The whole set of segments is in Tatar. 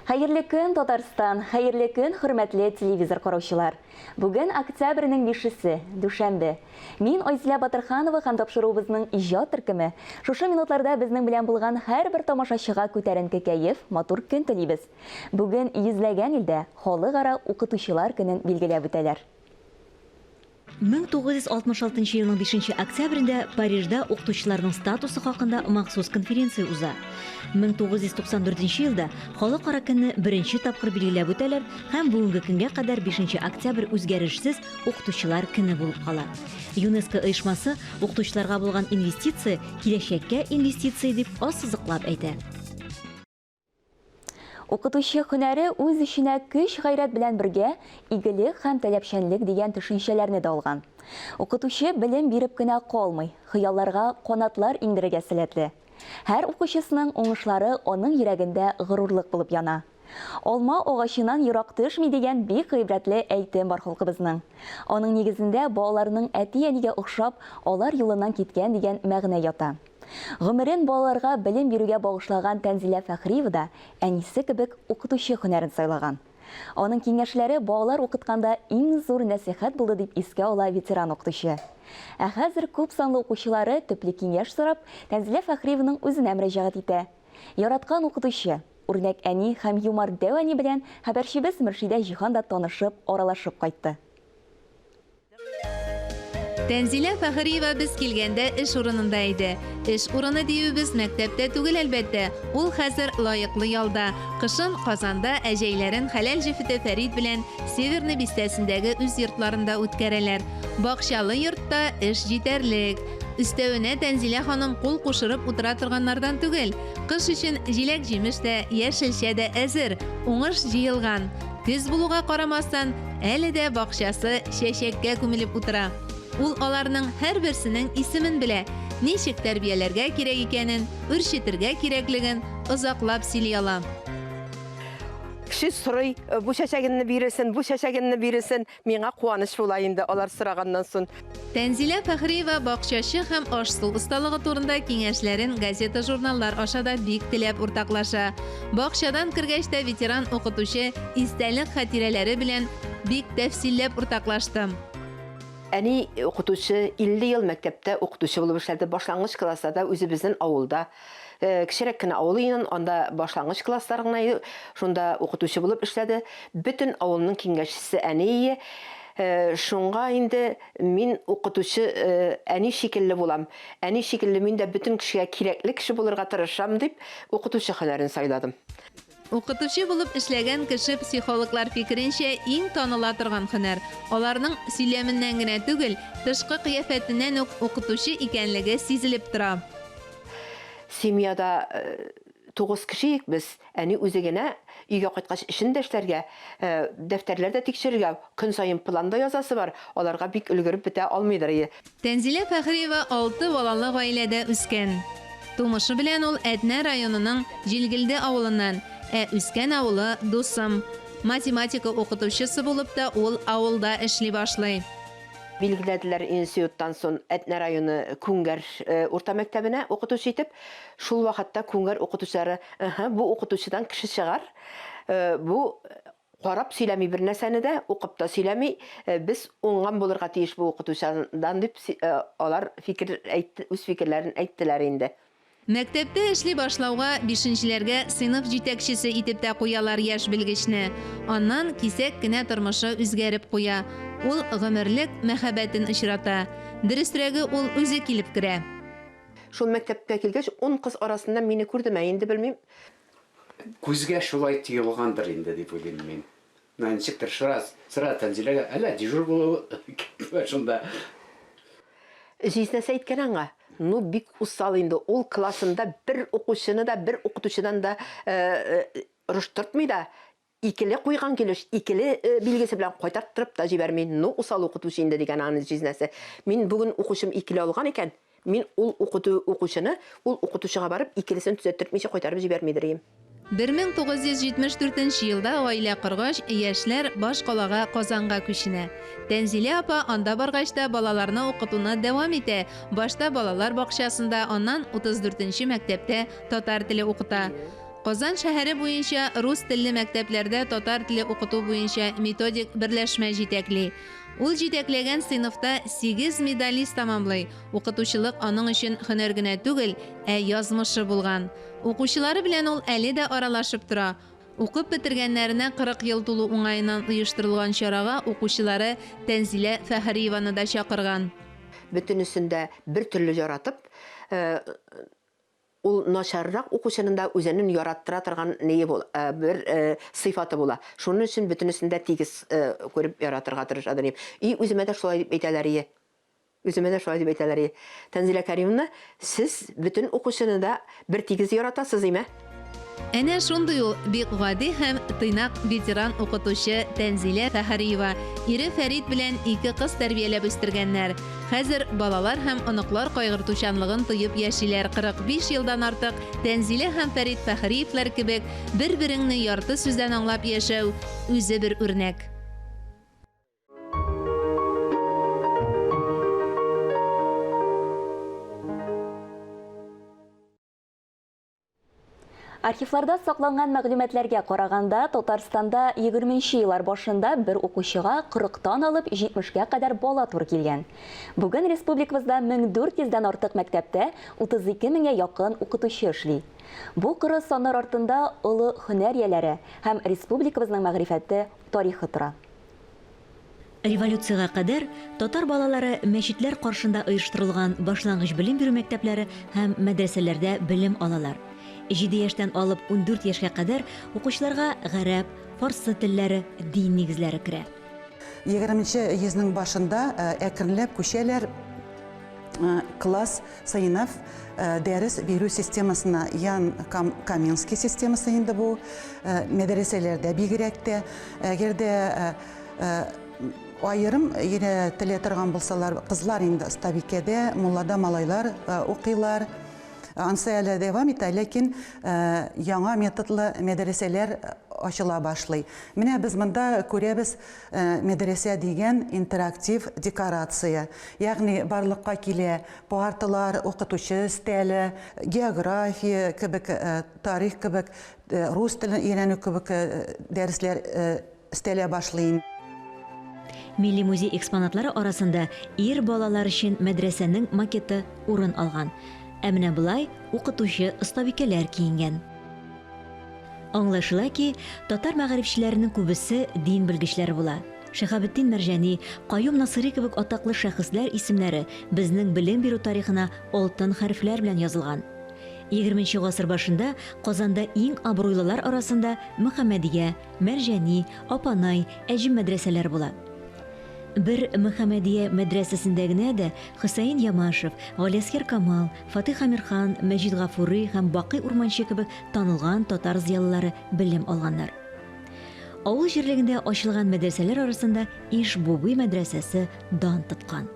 Хәерле көн, Татарстан! Хәерле көн, хөрмәтле телевизор караучылар! Бүген октябрьнең 5-се, дүшәмбе. Мин Айзлә Батырханова һәм тапшыруыбызның иҗат төркеме. Шушы минутларда безнең белән булган һәрбер тамашачыга күтәренке кәеф, матур көн телибез. Бүген йөзләгән илдә Халыкара укытучылар көнен билгеләп үтәләр. 1966 елның 5 октябрендә Парижда укытучыларның статусы хакында махсус конференция уза. 1994 елда Халыкара көнне беренче тапкыр билгеләп үтәләр һәм бүгенге көнгә кадәр 5 октябрь үзгәрешсез Укытучылар көне булып кала. ЮНЕСКО оешмасы укытучыларга булган инвестиция, киләчәккә инвестиция дип ассызыклап әйтә. Укытучы һөнәре үз эченә көч-гайрәт белән бергә игелек һәм таләпчәнлек дигән төшенчәләрне дә алган. Укытучы белем биреп кенә калмый, хыялларга канатлар иңдерергә сәләтле. Һәр укучысының уңышлары аның йөрәгендә горурлык булып яна. Алма агачыннан ерак төшми дигән бик гыйбрәтле әйтем бар халкыбызның. Аның нигезендә балаларның әти-әнигә охшап, алар юлыннан киткән дигән мәгънә ята. Гомерен балаларга белем бирүгә багышлаган Тәнзилә Фәхриева да әнисе кебек укытучы һөнәрен сайлаган. Аның киңәшләре балалар укытканда иң зур нәсыйхәт булды, дип искә ала ветеран укытучы. Ә хәзер күп санлы укучылары, төпле киңәш сорап, Тәнзилә Фәхриеваның үзенә мөрәҗәгать итә. Яраткан укытучы, үрнәк әни һәм юмарт дәү әни белән хәбәрчебез Мөршидә Җиһан да танышып, аралашып кайтты. Тәнзилә Фәхриева без килгәндә эш урынында иде. Эш урыны диюебез мәктәптә түгел, әлбәттә. Ул хәзер лаеклы ялда. Кышын Казанда, ә җәйләрен хәләл җефете Фәрит белән Северный бистәсендәге үз йортларында үткәрәләр. Бакчалы йортта эш җитәрлек. Өстәвенә Тәнзилә ханым кул кушырып утыра торганнардан түгел. Кыш өчен җиләк-җимеш тә, яшелчә дә әзер, уңыш җыелган. Көз булуга карамастан, әле дә бакчасы чәчәккә күмелеп утыра. Ул аларның һәрберсенең исемен белә, ничек тәрбияләргә кирәк икәнен, үрчетергә кирәклеген озаклап сөйли ала. Кеше сорый, бу чәчәгенне бирерсен, бу чәчәгенне бирерсен. Миңа куаныч була инде алар сораганнан сон. Тәнзилә Фәхриева бакчачы һәм аш-су осталыгы турында киңәшләрен газета-журналлар аша да бик теләп уртаклаша. Бакчадан кергәч тә ветеран укытучы истәлек хатирәләре белән бик тәфсилләп уртаклаштым. Әни, укытучы, 50 ел мәктәптә укытучы булып эшләде, башлангыч классларда үзебезнен авылда, Э, кечерәк кенә авыл иде анда башлангыч класслар гына иде шунда укытучы булып эшләде бөтен авылның киңәшчесе әние э, шуңа инде мин укытучы э, әни шикелле булам әни шикелле мин дә бөтен кешегә кирәкле кеше булырга тырышам дип укытучы хөнәрен сайладым Укытучы булып эшләгән кеше психологлар фикеренчә иң таныла торган хөнәр. Аларның сөйләменнән генә түгел, тышкы кыяфәтеннән үк укытучы икәнлеге сизелеп тора. Семьяда тугыз кешеек без, әни үзе генә өйгә кайткач эшен дә эшләргә, дәфтәрләр дә тикшерергә, көн саен план да язасы бар, аларга бик өлгереп бетә алмыйдыр. Тәнзилә Фәхриева алты балалы гаиләдә үскән. Тумышы белән ул Әтнә районының Җилгелде авылыннан, ә үскән авылы, Дусым. Математика укытучысы булып та ул авылда эшли башлый. Билгеләделәр институттан сон Әтнә районы Күңгәр урта мәктәбенә укытучы итеп. Шул вакытта Күңгәр укытучылары, Ыһы, бу укытучыдан кеше чыгар, бу Карап сөйләми бернәрсәне дә, укып та сөйләми, без уңган булырга тиеш бу укытучыдан, дип алар фикер әйтте, үз фикерләрен әйттеләр инде. Мәктәптә эшли башлауга, бишенчеләргә сыйныф җитәкчесе итеп тә куялар яшь белгечне. Аннан кисәк кенә тормышы үзгәреп куя, ул гомерлек мәхәббәтен очрата. Дөресрәге, ул үзе килеп керә. Шул мәктәпкә килгәч, ун кыз арасында мине күрдеме, инде белмим. Күзгә шулай тоелгандыр инде, дип уйлыйм мин. Менә инспектор сыра, сыра Тәнзиләгә, әллә дежур булуы шунда. Җизнәсе әйткән аңа, Ну, бик усал инде, ул классында бер укучыны да, бер укытучыдан да орыштыртмый да, Икеле куйган килеш икеле билгесе белән кайтарттырып та җибәрми, ну усал укытучы инде, дигән аны җизнәсе. Мин бүген укучым икеле алган икән, мин ул укыту укучыны ул укытучыга барып икелесен төзәттертмичә кайтарып җибәрмидер ем. 1974 нче елда гаилә коргач, яшьләр баш калага Казанга күченә. Тәнзилә апа анда баргач та балаларны укытуны дәвам итә, башта балалар бакчасында, аннан 34 нче мәктәптә татар теле укыта. Казан шәһәре буенча рус телле мәктәпләрдә татар теле укыту буенча методик берләшмә җитәкли. Ул җитәкләгән сыйныфта сигез медалист тәмамлый, укытучылык аның өчен һөнәр генә түгел, ә язмышы булган. Укучылары белән ул әле дә аралашып тора. Укып бетергәннәренә 40 ел тулу уңаеннан оештырылган чарага укучылары Тәнзилә Фәхриеваны да чакырган. Бөтенесен дә бертөрле яратып. Ул начаррак укучының да үзенен яраттыра торган нее бу, ә, бер, ә, сыйфаты була. Шунын өчен бөтенесен дә тигез, ә, күреп яратырга тырыша дөнья. И, үземә дә шулай дип әйтәләрие. Үземә дә шулай дип әйтәләрие. Тәнзилә Кәримовна, сез бөтен укучыны да бер тигез яратасыз, име? Әнә шундый ул бик гади һәм тыйнак ветеран укытучы Тәнзилә Фәһариева. Ире Фәрит белән ике кыз тәрбияләп үстергәннәр. Хәзер балалар һәм оныклар кайгыртучанлыгын тоеп яшиләр 45 елдан артык Тәнзилә һәм Фәрит Фәһриевләр кебек бер-береңне ярты сүздән аңлап яшәү, үзе бер үрнәк. Архивларда сакланган мәгълүматларга караганда, Татарстанда 20 нче еллар башында бер укучыга 40 тан алып 70 га кадәр бала туры килгән. Бүген республикабызда 1400 дән артык мәктәптә 32 меңгә якын укытучы эшли. Бу коры саннар артында олы һөнәр ияләре һәм республикабызның мәгърифәте, тарихы тора. Революциягә кадәр татар балалары мәчетләр каршында оештырылган башлангыч белем бирү мәктәпләре һәм мәдрәсәләрдә белем алалар. Җиде яшьтән алып ундүрт яшькә кадәр укучыларга гарәп, фарсы телләре, дин нигезләре керә. Егерменче йөзнең башында әкренләп күчәләр класс Сыйныф, дәрес бирү системасына Ян Каменский системасы инде бу. Мәдрәсәләрдә бигрәк тә, әгәр дә аерым өйрәтелә торган булсалар, кызлар инде остабикәдә, муллада малайлар укыйлар. Ансы әле дәвам итә, ләкин яңа методлы мәдрәсәләр ачыла башлый. Менә без монда күрәбез, Мәдрәсә дигән интерактив декорация, ягъни барлыкка килә, парталар, укытучы өстәле, география кебек, тарих кебек, рус телен өйрәнү кебек дәресләр өстәлә башлый. Милли музей экспонатлары арасында ир балалар өчен мәдрәсәнең макеты урын алган. Ә менә болай укытучы остабикәләр киенгән. Аңлашыла ки, татар мәгарифчеләренең күбесе дин белгечләре була. Шиһабетдин Мәрҗани, Каюм Насыйри кебек атаклы шәхесләр исемнәре безнең белем бирү тарихына алтын хәрефләр белән язылган. Егерменче гасыр башында Казанда иң абруйлылар арасында Мөхәммәдия, Мәрҗани, Апанай, Әҗем мәдрәсәләре була. Бер Мөхәммәдия мәдрәсәсендә генә дә Хөсәен Ямашев, Галиәсгар Камал, Фатыйх Әмирхан, Мәҗит Гафури һәм Бакый Урманче кебек танылган татар зыялылары белем алганнар. Авыл җирлегендә ачылган мәдрәсәләр арасында Иж-Буби мәдрәсәсе дан тоткан.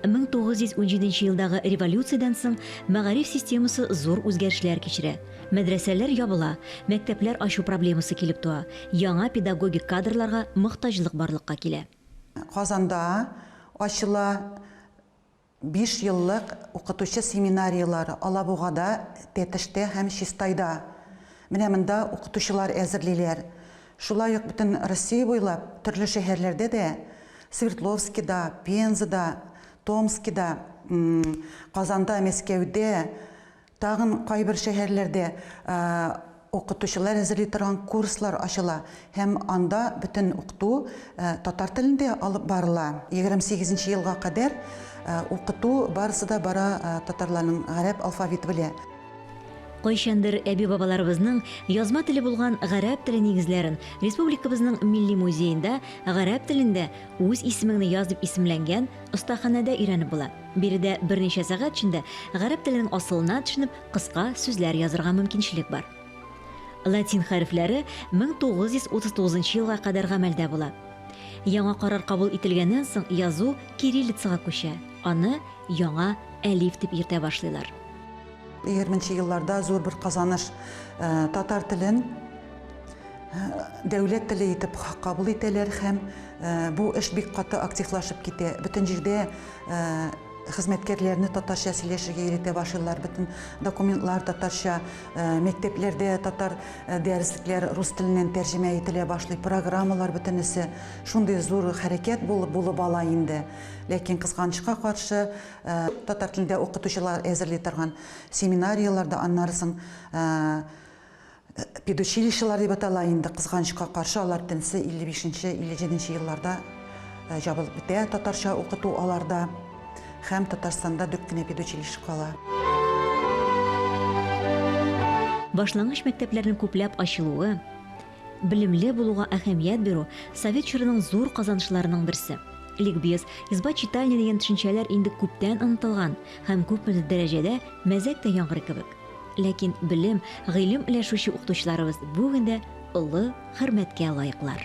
1917 елдагы революциядән соң мәгариф системасы зур үзгәрешләр кичерә. Мәдрәсәләр ябыла, мәктәпләр ачу проблемасы килеп туа, яңа педагогик кадрларга мохтаҗлык барлыкка килә. Казанда ачыла. Биш еллык укытучы семинарияләре Алабугада, Тәтештә һәм Чистайда. Менә монда укытучылар әзерлиләр. Шулай ук бөтен Россия буйлап төрле шәһәрләрдә дә, Свердловскида, Пензада, Томскида, Казанда, Мәскәүдә, Тагын кайбер шәһәрләрдә укытучылар әзерли торган курслар ачыла һәм анда бөтен укыту татар телендә алып барыла. 28 нче елга кадәр укыту барысы да бара татарларның гарәп алфавиты белә. Кайчандыр әби-бабаларыбызның язма теле булган гарәп теле нигезләрен республикабызның Милли музеенда Гарәп телендә үз исемеңне яз дип исемләнгән остаханәдә өйрәнеп була. Биредә берничә сәгать эчендә гарәп теленең асылына төшенеп, кыска сүзләр язырга мөмкинчелек бар. Латин хәрефләре 1939 елга кадәр гамәлдә була. Яңа карар кабул ителгәннән соң язу кириллицага күчә, аны яңа әлиф дип йөртә башлыйлар. Егерме нче елларда зур бер казаныш, татар телен дәүләт теле итеп кабул итәләр һәм бу эш бик каты активлашып китә. Бөтен җирдә хезмәткәрләрне татарча сөйләшергә өйрәтә башлыйлар бөтен документлар татарча мәктәпләрдә татар дәреслекләр рус теленнән тәрҗемә ителә башлый программалар бөтенесе шундый зур хәрәкәт булып булып ала инде ләкин кызганычка каршы татар телендә укытучылар әзерли торган семинарияләрдә аннары соң Педучилищелар дип атала инде, кызганычка каршы, алар тенсе 55-57 нче елларда җабылып бетә, татарча укыту аларда һәм Татарстанда дүрт кенә педучилище кала. Башлангыч мәктәпләрнең күпләп ачылуы, белемле булуга әһәмият бирү, совет чорының зур казанышларының берсе. Ликбез, изба читальня дигән төшенчәләр инде күптән онытылган һәм күпмедер дәрәҗәдә мәзәк тә яңгырый кебек. Ләкин белем, гыйлем өләшүче укытучыларыбыз бүген дә олы хөрмәткә лаеклар.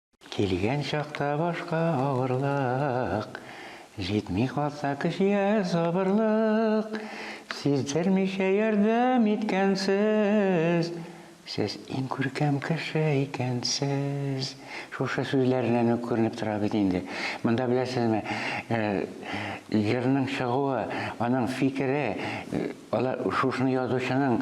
Килгән чакта башка авырлык, Җитми калса кешегә сабырлык, Сиздермичә ярдәм иткәнсез, Сез иң күркәм кеше икәнсез. Шушы сүзләреннән үк күренеп тора бит инде. Монда, беләсезме, җырның чыгуы, аның фикере, алар шушыны язучының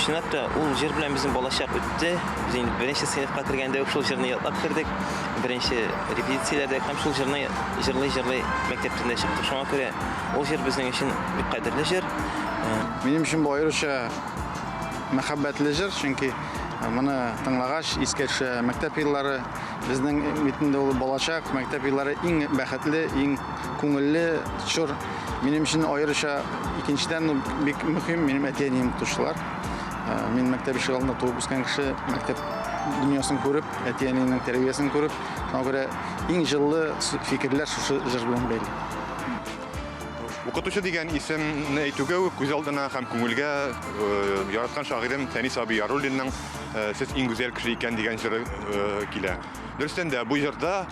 Чынлап та, ул җыр белән безнең балачак үтте. Без инде беренче сыйныфка кергәндә үк шул җырны ятлап кердек. Беренче репетицияләрдә һәм шул җырны җырлый-җырлый мәктәптән дә чыктык. Шуңа күрә ул җыр безнең өчен бик кадерле җыр. Минем өчен бу аеруча мәхәббәтле җыр, чөнки моны тыңлагач, искә төшә мәктәп еллары. Безнең бит инде ул балачак, мәктәп еллары иң бәхетле, иң күңелле чор. Минем өчен аеруча икенчедән ну, бик мөһим минем әти-әнием тотучылар. Ә, мин мәктәп ишек алдында туып үскән кеше, мәктәп дөньясын күреп, әти-әниемнең тәрбиясен күреп, шуңа күрә иң җылы фикерләр шушы җыр белән бәйле. Укытучы дигән исемне әйтүгә үк күз алдына һәм күңелгә яраткан шагыйрем Фәнис абый Яруллинның Сез иң гүзәл кеше икән дигән җыры килә. Дөрестән дә, бу җырда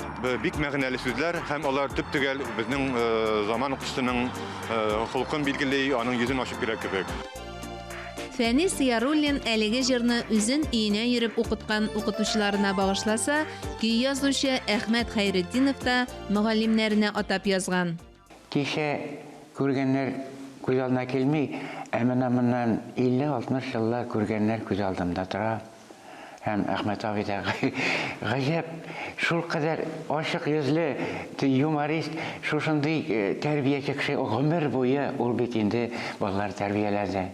бик мәгънәле сүзләр һәм алар төп-төгәл безнең заман укучысының холкын билгели, аның йөзен ачып бирә кебек. Фәнис Яруллин әлеге җырны үзен өенә йөреп укыткан укытучыларына багышласа, көй язучы Әхмәт Хәйретдинов та мөгаллимнәренә атап язган. Кичә күргәннәр күз алдына килми, ә менә моннан 50-60 еллар күргәннәр күз алдымда тора. Һәм Әхмәт абый да, гаҗәп, шулкадәр ачык йөзле, юморист, шушындый тәрбияче кеше, гомер буе ул бит инде балалар тәрбияләде.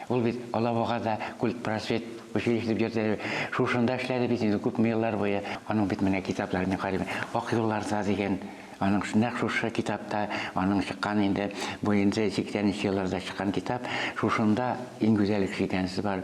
Ул бит Алабуга да культпросвет училище дип йөртә иде. Шушында эшләде бит инде күпме еллар буе. Аның бит менә китаплары, мин карыйм, Ак юлларда дигән, аның нәкъ шушы китапта, аның чыккан инде, бу инде сиксәненче елларда чыккан китап, шушында иң гүзәл кеше икәнсез бар.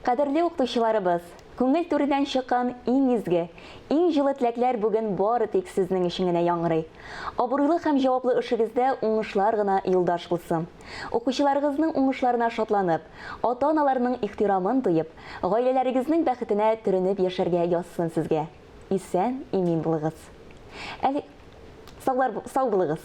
Кадерле укытучыларыбыз, күңел түреннән чыккан иң изге, иң җылы теләкләр бүген бары тик сезнең өчен генә яңгырый. Абруйлы һәм җаваплы эшегездә уңышлар гына юлдаш булсын. Укучыларыгызның уңышларына шатланып, ата-аналарның ихтирамын тоеп, гаиләләрегезнең бәхетенә төренеп яшәргә язсын сезгә. Исән, имин булыгыз. Әле, саулар, сау булыгыз.